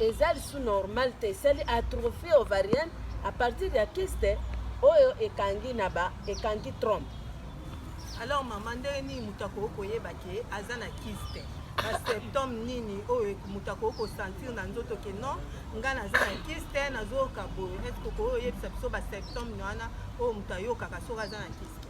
Eza lisusu normal te, esali atrophie ovarienne à partir ya kyste oyo ekangi na ba ekangi trompe. Alors maman, ndenge nini moto akoki koyeba ke aza na kyste? ba symptome nini oyo moto akoki kosentir na nzoto ke non ngai naza na kiste nazoyoka boye eske okoki oyebisa biso ba symptome wana oyo moto ayokaka soki aza na kiste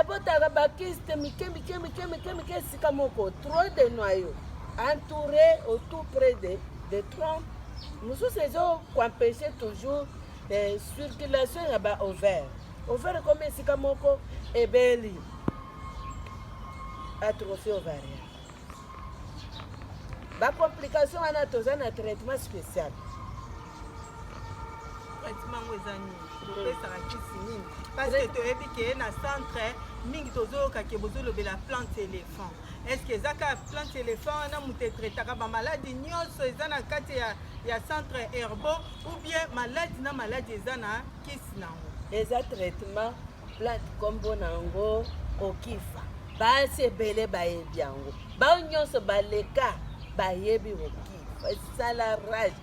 ebotaka bakiste mike mike mike mike mike esika moko trop de noyau entouré au tout près de, de tronc mosusu ezokoempeshe toujours eh, circulation ya ba ovaire ovaire ekomi esika moko ebeli atrophie ovarienne bacomplication wana toza na traitement spécial traitement yango eza nini topesaka kisi nini parce que toyebi ke na centre mingi tozoyoka ke bozolobela plante éléphant est ce que eza kaka plante éléphant wana moto etraitaka bamaladi nyonso eza na kati ya, ya centre herbo ou bien maladi na maladi eza na kisi na yango eza traitement plante kombo na yango okifa basi ebele bayebi yango bao nyonso baleka bayebi okifa esala rage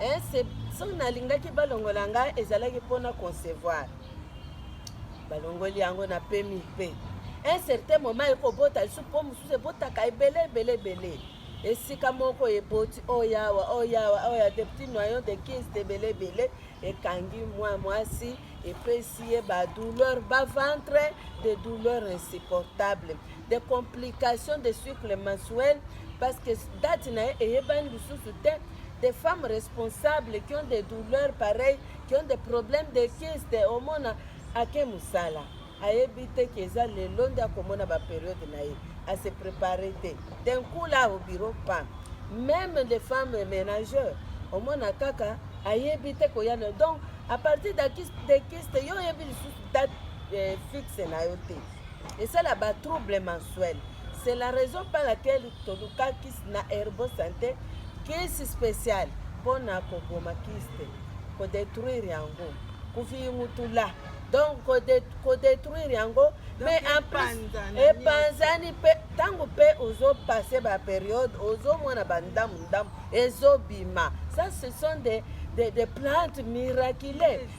eh, soki nalingaki balongola ngai ezalaki mpona concevoir balongoli yango na pemi mpe un certain moment ekobota lisusu mpo mosusu ebotaka ebele ebele ebele esika moko eboti oyawa oh, oyawa oh, oya oh, de petit noyon de kiste ebele ebele ekangi mwa mwasi epesi ye badouleur baventre de douleur insupportable des complications de cycle mensuel parce que date na ye eyebani lisusu te des femmes responsables qui ont des douleurs pareilles qui ont des problèmes de kiste omona ake mosala ayebi te ke eza lelo nde akomona baperiode na ye ase prépare te d'un coup là au bureau pam même les femmes ménageurs omona kaka ayebi te koya donc à partir de kiste yo oyebi lisusu date eh, fixe na yo te esala ba trouble mensuel c'est la raison par laquelle tolukaki na herbo santé kisi spécial mpo na koboma kiste kodétruire yango kofingutula donc kodétruire yango mais en plus epanzani mpe ntango mpe ozopase baperiode ozomona bandamu ndamu ezobima ça ce sont des, des, des plantes miraculeuses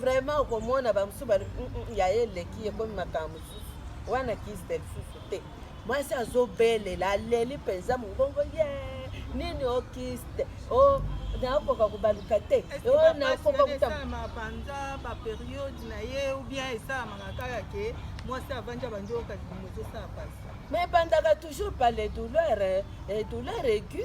vraiment okomona bamosusu bali mm, mm, ya ye eleki ekomi makambo mosusu wana kiste lisusu te mwasi azobelela aleli mpenza mongongo ye nini o kiste o nakoka kobaluka te o nakoka kosalama banza baperiode na ye oubien esalamaka kaka ke mwasi avandi abandi oyoka libumu ezosala pasi mais ebandaka toujours par les douleurs eh, douleur aigu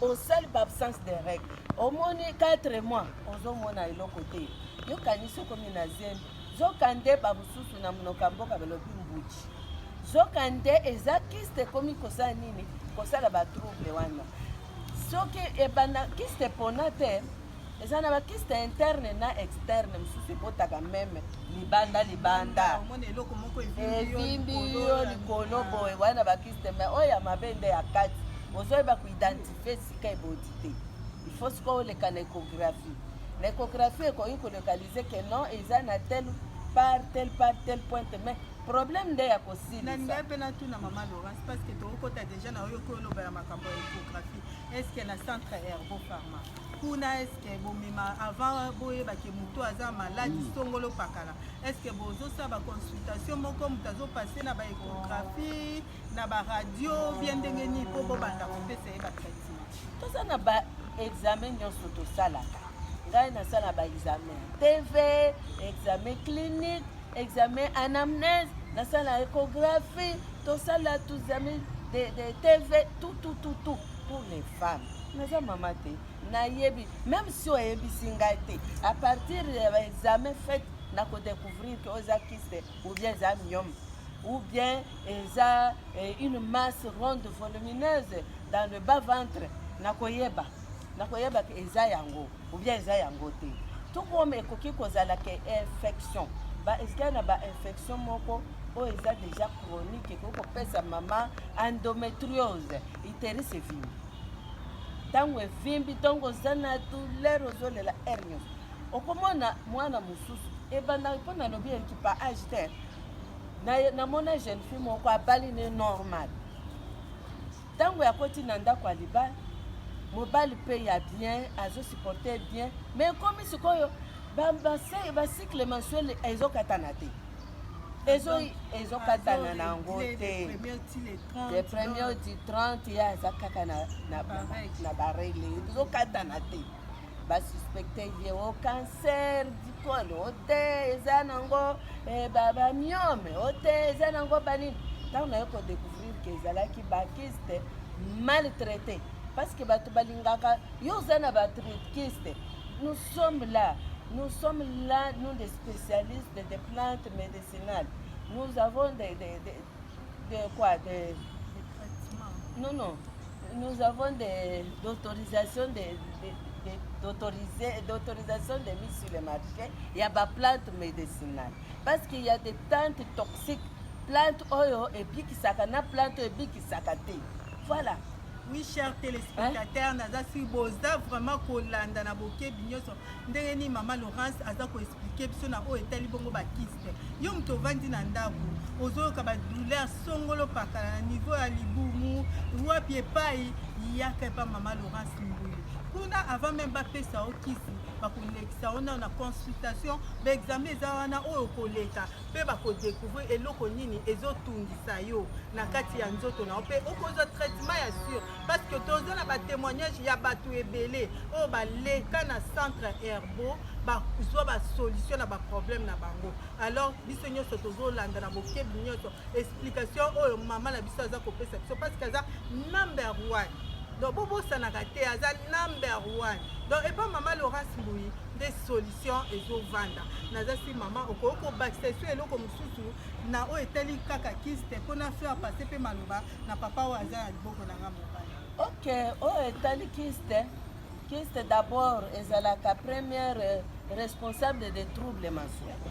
osali ba absence de règle omoni 4 mois ozomona eloko te yokanisi okomi na zemi zoka nde bamosusu na monoko ya mboka balobi mbuji zoka nde eza kiste ekomi kosala nini kosala batrouble wana soki ebanda kiste epona te eza na bakiste interne na externe mosusu ebotaka meme libanda libanda evimbi yo likolo boye wana na bakiste mai oyo ya mabe nde ya kati ozoyeba koidentifie esika eboti te ifo sikoyo oleka na écographie na écographie ekoki kolokalize ke non eza na tel par tel par tel pointe mais problème nde ya kosilisa ngai mpe natuna mama laurence parce que tokokota déjà na oyo okoyoloba ya makambo ya écographie est ce que na centre herbo pharma kuna eske bomema avant boyeba ke moto aza maladi mm. songolo pakala eske bozosala baconsultation moko moto azopase na baecographie na baradio bie ndenge nini mpo bobanda kopesa ye batraitement toza na baexamen nyonso tosalaka ngai nasala baexamen tv examen clinique examen anamnese nasala ecographie tosala tuzami de, de tv tout tout tout tout pour les femmes naza mama te nayebi meme si oyebisi ngai te à partir ya baexamen fait na kodécouvrir ke oza kiste ou bien eza miome ou bien eza eh, une masse ronde volumineuse dans le bas ventre nakoyeba nakoyeba ke eza yango ou bien eza yango te tout comme ekoki kozala ke infection baezali na bainfection moko oyo eza déjà chronique ekoki kopesa mama endométriose interesse evimbi ntango evimbi ntongo oza na douleur ozolela aire nyonso okomona mwana mosusu ebandaka mpo nalobi eleki pa age te namona jeune fille moko abali ne normal ntango yakoti na ndako ya libala mobali mpe ya bien azosupporte bien ma ekomi sikoyo bacycle mensuel ezokatana te ezokatana na yango te le premier du 30 ye aza kaka na baregle tozokatana te basuspecte ye o cancer dikolo o te eza nango eh, bamiome o te eza nango banini ntango naye kodecouvrir ke ezalaki bakiste maltraité parce que bato balingaka yo oza na batritkiste nous sommes là nous sommes là nous des spécialistes des plantes médicinales nous avons des, des, des de quoi de, de traitement non non nous avons des d'autorisation de, de, de d'autoriser d'autorisation de mise sur le marché ya ba plante médicinale parce qu'il y a des plantes toxiques plante oyo ebikisaka na plante oyo ebikisaka te voilà oui cher téléspectateur naza si boza vraiment kolanda na bokebi nyonso ndenge nini mama laurence aza koexplike biso na oyo etali bongo bakisi yo moto ovandi na ndako ozoyoka badouleur songolo pakala na niveau ya libumu wapi epai yaka epa mama laurence mbuyi kuna avant meme bapesa yo kisi bakolekisa yo nao na consultation baexame eza wana oyo okoleka mpe bakodecouvrir eloko nini ezotungisa yo na kati ya nzoto na yo mpe okozwa traitement ya sur parce que toza na batémoignage ya bato ebele oyo baleka na centre herbeau bazwa basolution na baproblème na bango alors biso nyonso tozolanda na bokebi nyonso explication oyo mama na biso aza kopesa biso parce que aza number one donc bobosanaka te aza number one donc epa mama laurence mbuyi nde solution ezovanda naza si mama okoki kobakisa esu eloko mosusu na oyo etali kaka kiste mpo na faire passe mpe maloba na papa oyo aza na liboko na nga mobali ok oyo etali kiste Kiste d'abord ezalaka première responsable de trouble mensuel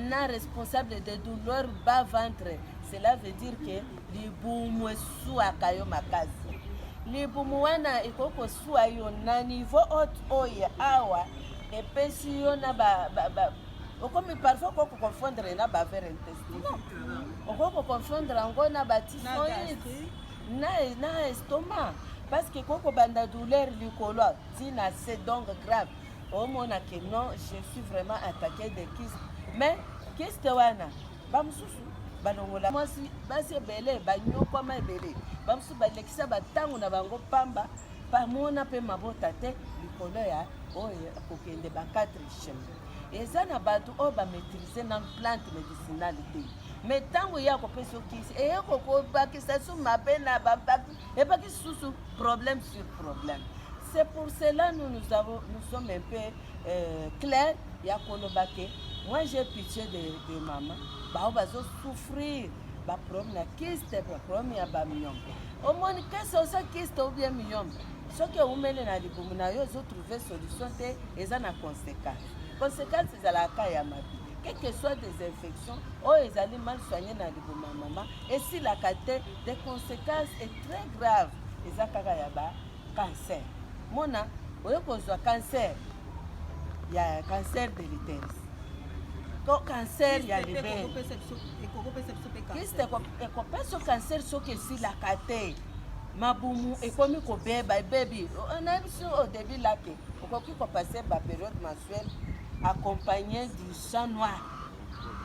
na responsable de douleur bas ventre cela veut dire que libumu esuaka yo makasi libumu wana ekoki kosua yo na niveau haute oyo awa epesi yo na ba, ba, ba okomi parfois okoki koconfondre na bavere intestinal okoki koconfondre yango na batisoid na, na estoma parce que koko banda douleur likolo tina c'est donc grave omona que non je suis vraiment attaqué de kiste mais kiste wana bamosusu balongola mwasi basi ebele banyokwama ebele bamosusu balekisa bantango na bango pamba bamona mpe mabota te likolo ya oyo kokende ba 4 chemin eza na bato oyo bamaîtrise na plante medicinale te me ntango ye akopesa yo kisi eye kokobakisa su mabe na babaki ebaki susu problème sur problème c'est pour cela nous nous, avons, nous sommes un peu euh, clair ya koloba ke moi j'ai pitié de, de mama bao bazosouffrir baproblème na kiste baproblème ya bamiyombo omoni kese osa kiste obie miyombo soki ewumeli na libumu na yo ezotrouve solution te eza na conséquence conséquence ezalaka ya mabe quelque soit des infections oyo ezali mal soigne na libumu ya mama esilaka te des conséquences est très grave eza kaka ya ba cancer mona oyo kozwa cancer ya cancer de l'utérus to cancer ya libelekiste ekopesa cancer soki esilaka te mabumu ekomi kobeba ebebi nayebisi au début lake Okoki ko passer ba periode mensuelle accompagné du sang noir.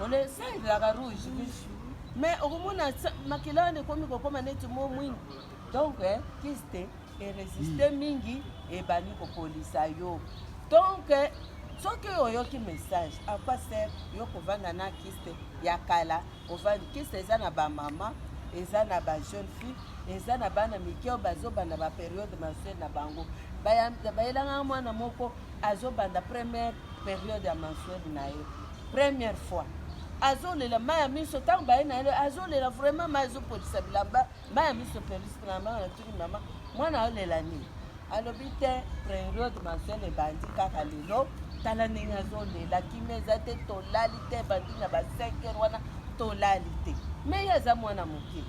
On le sait la rouge. Mais okomona makila wana ekomi kokoma neti mo mwingi. Donc eh, kiste eresiste hmm. mingi ebandi kopolisa yo. Donc eh, soki oyoki message à quoi sert yo kovanda na kiste ya kala Ovandi kisa eza na ba mama, eza na ba jeune fille, eza na bana mike oyo bazobanda ba periode mensuel na bango. Bayelanga mwana moko azobanda première periode ya mensuel na ye première fois azolela mai ya miso ntango baye na ye azolela vraiment mai azopolisa bilamba mai ya miso pelisi na mama natuni mama mwana aolela nini alobi te periode mensuel ebandi kaka lelo tala ndenge azolela kimia eza te tolali te ebandi na ba 5 heure wana tolali te mais ye aza mwana moke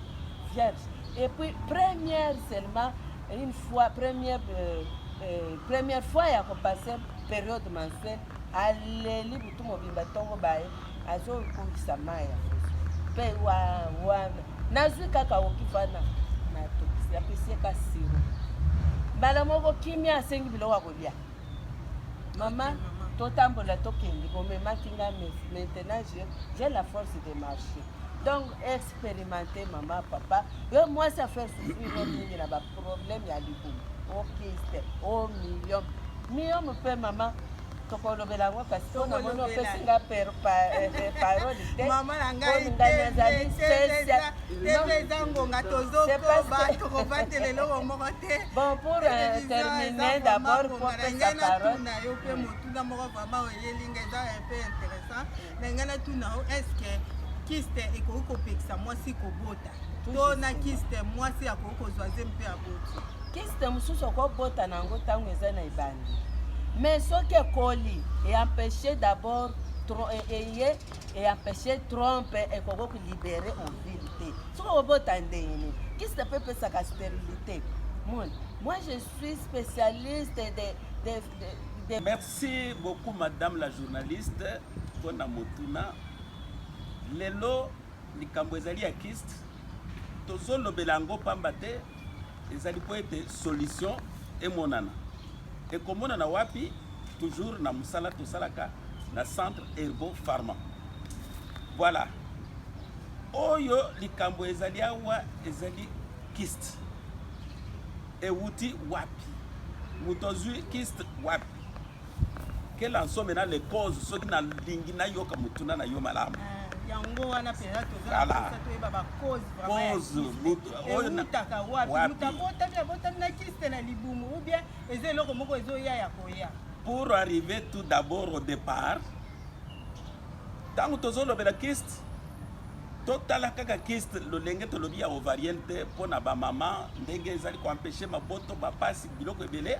vierge et puis première seulement une fois première euh, euh, première fois ya kopase periode mensuel aleli butu mobimba ntongo baye azo kongisa maya pe wa wa nazwi kaka okifana na tokisi apesi ka siro mbala moko kimia asengi biloko ya kolia mama totambola tokende bomemaki nga maintenant j'ai la force de marcher donc expérimente mama papa yo mwasi afaire souffrir yo mingi na baproblème ya libumu okiste o million million mpe mama tokolobela yango kasi po namoni opesi nga parole te mama na ngai nazali eza ngonga tozokoba tokobatela eloko moko te bon pour terminer d'abord popesa parole na yo mpe motuna moko vraiment oyeli nga eza un peu intéressant na ngai natuna yo est ce que kiste ekoki kopekisa mwasi kobota to na kiste mwasi akoki kozwa ze mpe aboti kiste mosusu okobota na yango ntango eza na ebandi mais soki ekoli eempeshe d'abord eye eempeshe trompe ekoki kolibere ovile te soki okobota ndenge nini kiste mpe epesaka sterilité mon moi je suis spécialiste de, de, de, de... merci beaucoup madame la journaliste mpona motuna lelo Likambo ezali ya kiste tozolobela yango pamba te ezali mpo ete solution emonana ekomonana wapi toujours na mosala tosalaka na centre herbo pharma voilà oyo likambo ezali awa ezali kiste ewuti wapi moto azwi kiste wapi kela nsome na le cause soki nalingi nayoka motuna na yo malamu eh, yango wana mpenza tozatoyeba bacause eutaka wapi moto abotami abotami na kiste na libumu ou bien eza eloko moko ezoya ya koya pour arriver tout d'abord au départ ntango tozolobela kiste totala kaka kiste lolenge tolobi ya ovarienne te mpo na bamama ndenge ezali koempeshe maboto bapasi biloko ebele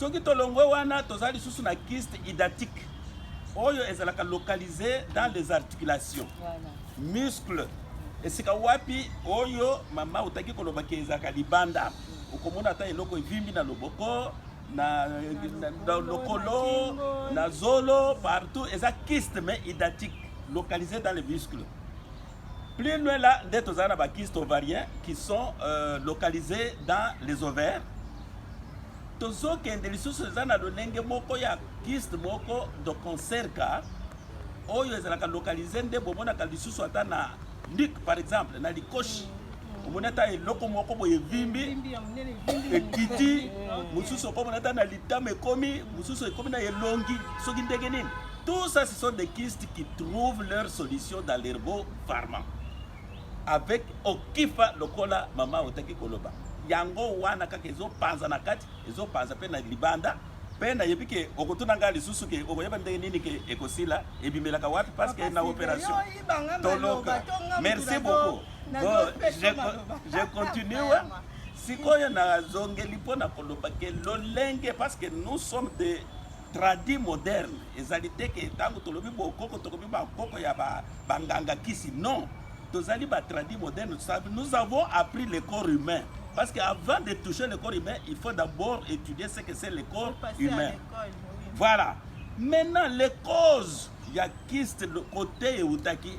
Soki tolongwe wana toza lisusu na kyste hydatique oyo ezalaka localise dans les articulations muscle esika wapi oyo mama otaki koloba ke ezalaka libanda okomona ata eloko evimbi na loboko na, na, na lokolo na zolo partout eza kyste mais hydatique localise dans les muscles Plus loin là, nde tozala na ba kystes ovariens qui sont euh, localisés dans les ovaires. Tozokende lisusu eza na lolenge moko ya kyste moko de concert car oyo ezalaka localise nde bomonaka lisusu ata na lik par exemple na likoshi omoni ata eloko moko boye evimbi ekiti mosusu okomona ata na litama ekomi mosusu ekomi na elongi soki ndenge nini Tout ça, ce sont des kistes qui trouvent leur solution dans l'herbo pharma. Avec Okifa Lokola, Mama Otaki Koloba. Yango wana kaka ezo panza na kati, ezo panza pe na libanda. Pe na yebi ke okotuna nga lisusu ke okoyeba ndenge nini ke ekosila ebimelaka wapi parce que na operation. Toloka. Merci beaucoup. Bon, je, je continue. sikoyo nazongeli mpo na koloba ke lolenge parce que nous sommes des Tradi moderne ezali te ke ntango tolobi bokoko tokomi bakoko ya banganga kisi non tozali ba tradi moderne nous avons appris le corps humain parce que avant de toucher le corps humain il faut d'abord étudier ce que c'est le corps humain voilà maintenant les causes ya kiste kote eutaki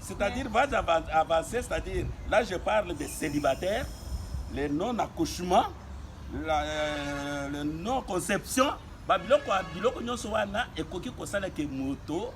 C'est-à-dire, vas avancer, c'est-à-dire, là je parle des célibataires, les non-accouchements, euh, le non-conception, ba biloko biloko nyonso wana ekoki kosala ke moto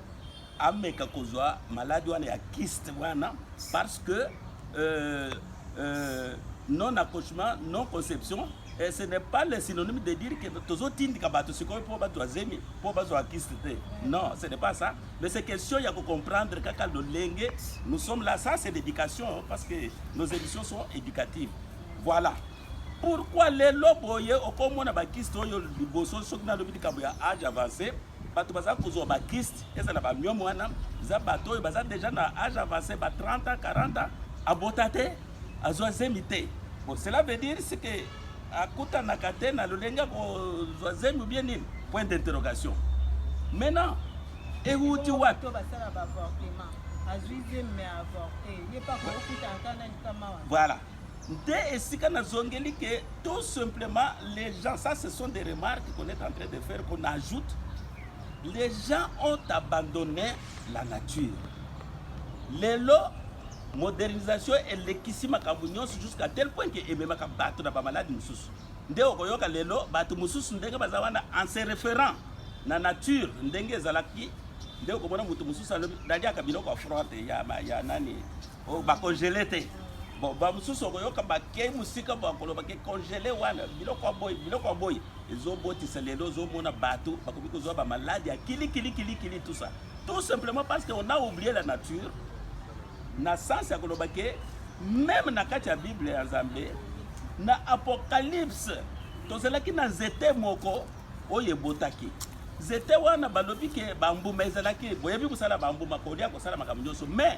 ameka kozwa maladi wana ya kiste wana parce que euh, euh, non accouchement non conception Et ce n'est pas le synonyme de dire que tozo tindika bato sikoyo mpo bato ya zemi mpo bazwa kiste te. Non, ce n'est pas ça. Mais c'est question ya ko comprendre kaka lolenge nous sommes là. Ça c'est l'éducation parce que nos émissions sont éducatives. Voilà. Pourquoi lelo boye okomona bakiste oyo liboso soki nalobi likambo ya age avancé bato baza kozwa ba kiste eza na bamiome wana eza bato oyo baza deja na age avance ba 30 40 abota te azwa zemi te bon cela veut dire ce que akutanaka te na lolenge ya kozwa zemi obie nini point d'interrogation maintenant ewuti wapi voilà nde esika nazongeli ke tout simplement les gens ça ce sont des remarques qu'on est en train de faire qu'on ajoute les gens ont abandonné la nature lelo modernisation elekisi makambo nyonso jusqu'à tel point ke ememaka bato na bamaladi mosusu nde okoyoka lelo bato mosusu ndenge baza wana en se référant na nature ndenge ezalaki nde okomona moto mosusu aliaka biloko ya froide ya, ya nani Oh, ba congele te. Bon, ba mususu okoyoka bakei mosika bakoloba ke congele wana biloko ya boye biloko ya boye ezobotisa lelo ozomona bato bakomi kozwa bamaladi ya kilikilikilikili tout ça tout simplement parce que on a oublié la nature na sens ya koloba ke meme na kati ya bible ya nzambe na apocalypse tozalaki na nzete moko oyo ebotaki nzete wana balobi ke bambuma ezalaki boyebi kosala bambuma kolia kosala makambo nyonso mais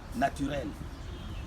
naturel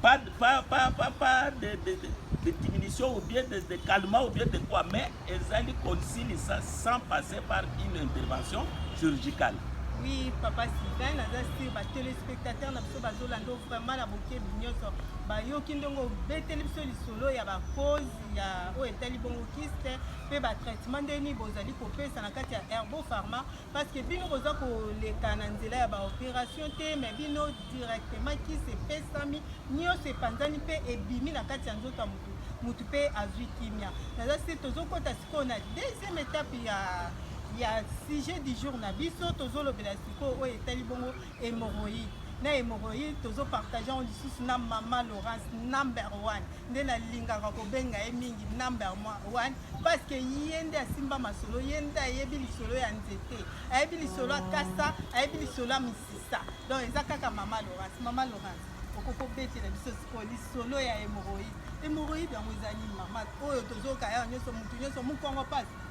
pas pas pas pas, pas de, de, de, de diminution ou bien de, de calmant ou bien de quoi mais ezali kosilisa sans passer par une intervention chirurgicale oui papa sylvain naza sur batelespectateur na biso bazolanda vraiment na bokebi nyonso bayoki ndenge obeteli biso lisolo ya bacause ya oyo etali bongo kiste mpe batraitement ndeni bozali kopesa na kati ya herbo pharma parce que bino boza koleka na nzela ya baopération te mais bino directement kisi epesami nyonso epanzani mpe ebimi na kati ya nzoto ya motu motu mpe azwi kimia naza se tozokɔta sikoyo na deuxième étape ya ya sujet du jour na biso tozolobela sikoyo oyo etali bongo Hemorroïde na hemorroïde tozo partage yango lisusu na mama Laurence number one nde nalingaka kobenga ye mingi number one parce que ye nde asimba masolo ye nde ayebi lisolo ya nzete ayebi lisolo ya kasa ayebi lisolo ya misisa donc eza kaka mama Laurence mama Laurence okoki kobetela biso sikoyo lisolo ya hemorroïde hemorroïde yango eza nini mama oyo tozoyoka yango nyonso motu nyonso mokongo mpasi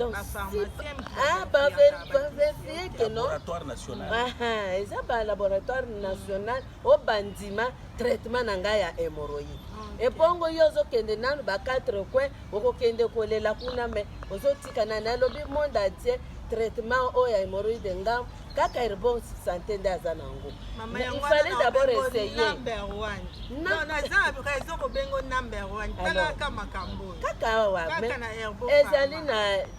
donc ah, baverifie ke non eza balaboratoire national oyo bandima traitement na ngai ya hémoroïde ebongo yo ozokende nanu ba quatre coin okokende kolela kuna me ozotikana nalobi monde atie traitement oyo ya hémoroïde ngambo kaka ere bon sante nde aza na yango il fallait d'abord essayer kaka awa ezali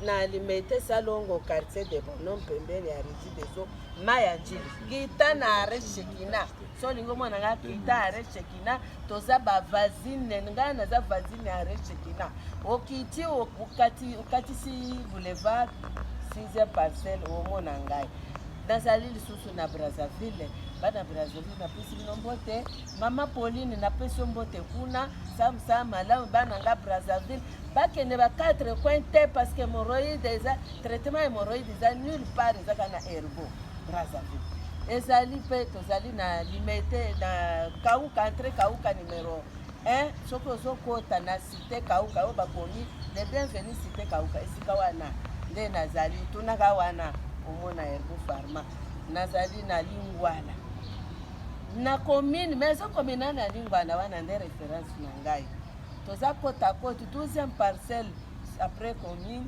na limete salongo quartier de bonom pembeni ya regi deso mai ya njili kita na are shekina so olingi omona nga kita are shekina toza bavasine ngai naza vasine are shekina okiti okatisi boulevard sixième parcelle omona ngai nazali lisusu na brazzaville bana brazzaville napesi bino mbote mama pauline napesi yo mbote kuna samsa malamu bana nga brazzaville bakende ba 4 coin te parce que hemorroïde eza traitement hemorroïde eza nulle part eza kaka na herbo brazzaville ezali mpe tozali na limete na kauka entre kauka numero 1 soki ozokota na si Cite Kauka oyo bakomi le bienvenu Cite Kauka, esika wana nde nazali. Tunaka wana omona Herbo Pharma. Nazali na Lingwala na commune maison communale na Lingwala, wana nde reference na ngai. Toza kota koti 12e parcelle après commune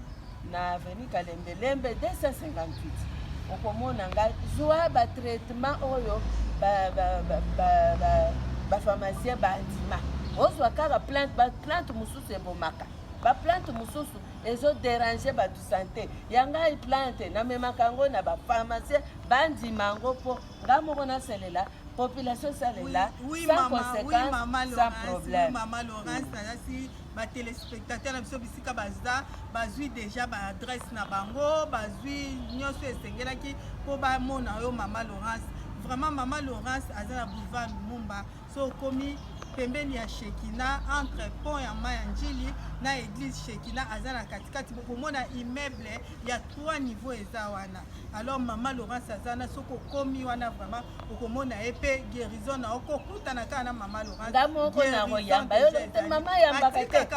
na avenue Kalembe Lembe 258 okomona ngai zwa batraitement oyo bapharmacien bandima ozwa kaka plante baplante mosusu ebomaka baplante mosusu ezoderange bato sante ya ngai plante namemaka yango na bapharmacien bandima yango mpo ngai moko nasalela population esalela sans conséquence sans problème ba telespectateur na biso bisika baza bazwi deja ba adresse na bango bazwi nyonso esengelaki mpo bamona yo mama laurence vraiment mama laurence aza na boulevard lumumba so okomi pembeni ya shekina entre pont ya mai ya njili na eglise shekina aza na katikati bokomona immeuble ya trois niveau eza wana alors mama laurence aza wana soki okomi wana vraiment okomona ye mpe guérison na okokutana kaka na mama Laurence nga moko na koyamba yo mama yambaka te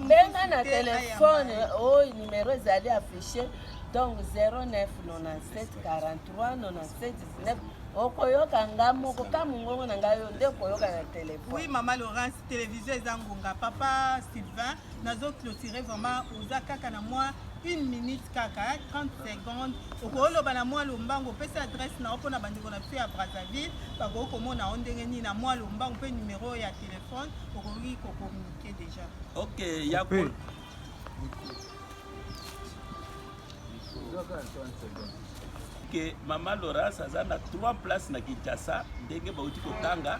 benga na telefone oyo oh, numero ezali affiche donc 0997439719 okoyoka nga moko ka mongongo na ngai yo nde okoyoka na telefone oui mama laurence télévision eza ngonga papa sylvain nazo clôture vraiment oza kaka na mwa une minute kaka 30 secondes okoki oloba na mwa lombango opesi adresse na yo mpo na bandeko na biso ya brazzaville bakoki komona yo ndenge nini na mwa lombango mpe numero oyo ya telefone okoki kokomunike déjà ok ya ko ke mama loras aza na 3 place na kinshasa ndenge bauti kotanga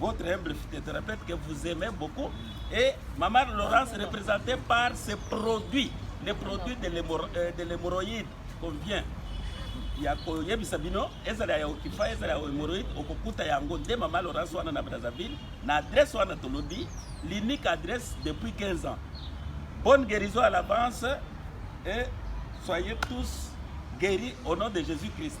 votre humble phytothérapeutique que vous aimez beaucoup. Et Maman Laurence représentée par ses produits, les produits de euh, l'hémorroïde qu'on vient ya koyebisa bino ezala ya okifa ezala ya hemorroïde okokuta yango nde mama laurence wana na brazzaville na adresse wana tolobi l'unique adresse depuis 15 ans bonne guérison à l'avance et soyez tous guéris au nom de jésus christ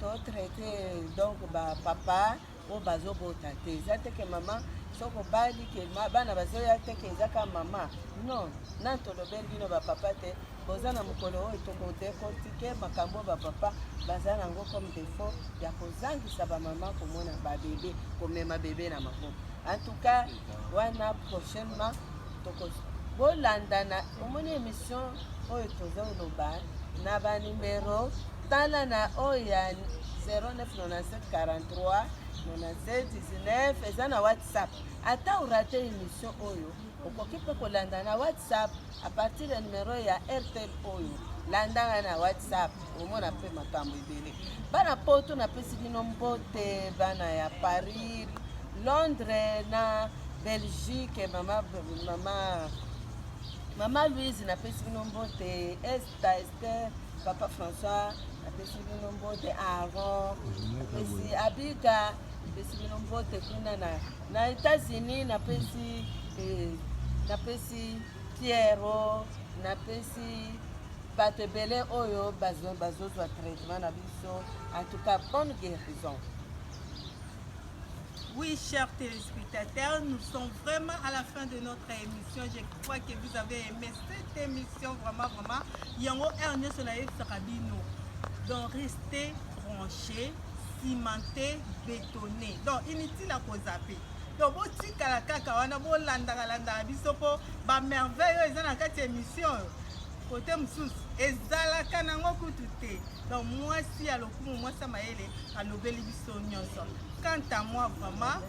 to traite donc ba papa oyo bazobota te eza te ke mama soki obali ke bana bazoya te ke eza ka mama non na tolobeli bino bapapa te boza na mokolo oyo tokodekortike makambo bapapa baza na yango comme defaut ya kozangisa bamama komona babebe komema bebe na maboko en tout cas wana prochainement toko bolandana omoni émission oyo tozoloba na banimero Tala na oyo ya 0997439719 eza na whatsapp ata orate emission oyo okoki mpe kolanda na whatsapp a partir ya numero ya airtel oyo landa ngai na whatsapp omona mpe makambo ebele bana poto napesi bino mbote bana ya paris londres na belgique mama mama mama louise napesi bino mbote est Tata Esther, Papa François, apesi bino mbote Aaron, apesi Abika, apesi bino mbote kuna na na États-Unis, napesi eh, napesi Pierrot, napesi bato ebele oyo bazozwa traitement na biso en tout cas bonne guérison Oui, chers téléspectateurs, nous sommes vraiment à la fin de notre émission. Je crois que vous avez aimé cette émission, vraiment, vraiment. Yango Ernio Solaïf Sarabino. Donc, restez branchés, cimentés, bétonnés. Donc, inutile à vous zapper. donc botikala kaka wana bolandaka landaka biso mpo bamerveille oyo eza na kati ya émission oyo kote mosusu ezalaka nango kutu te donc mwasi ya lokumu mwasi ya mayele alobeli biso biso nyonso quant à moi vraiment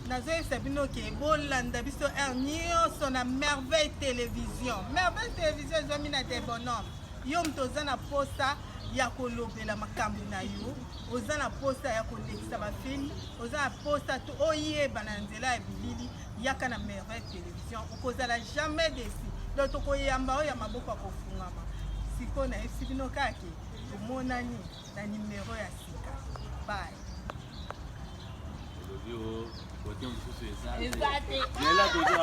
nazoyebisa bino ke bolanda biso heure nyonso na merveille télévision merveille télévision ezwami na debonome yo moto oza na posa ya kolobela makambo na yo oza na posa ya kolekisa bafilme oza na posa to oyebana na nzela ya bilili yaka na merveille télévision okozala jamais desi do tokoyamba oyo ya maboko ya kofungama sikoyo nayebisi bino kake tomonani na numero ya sika bay eza te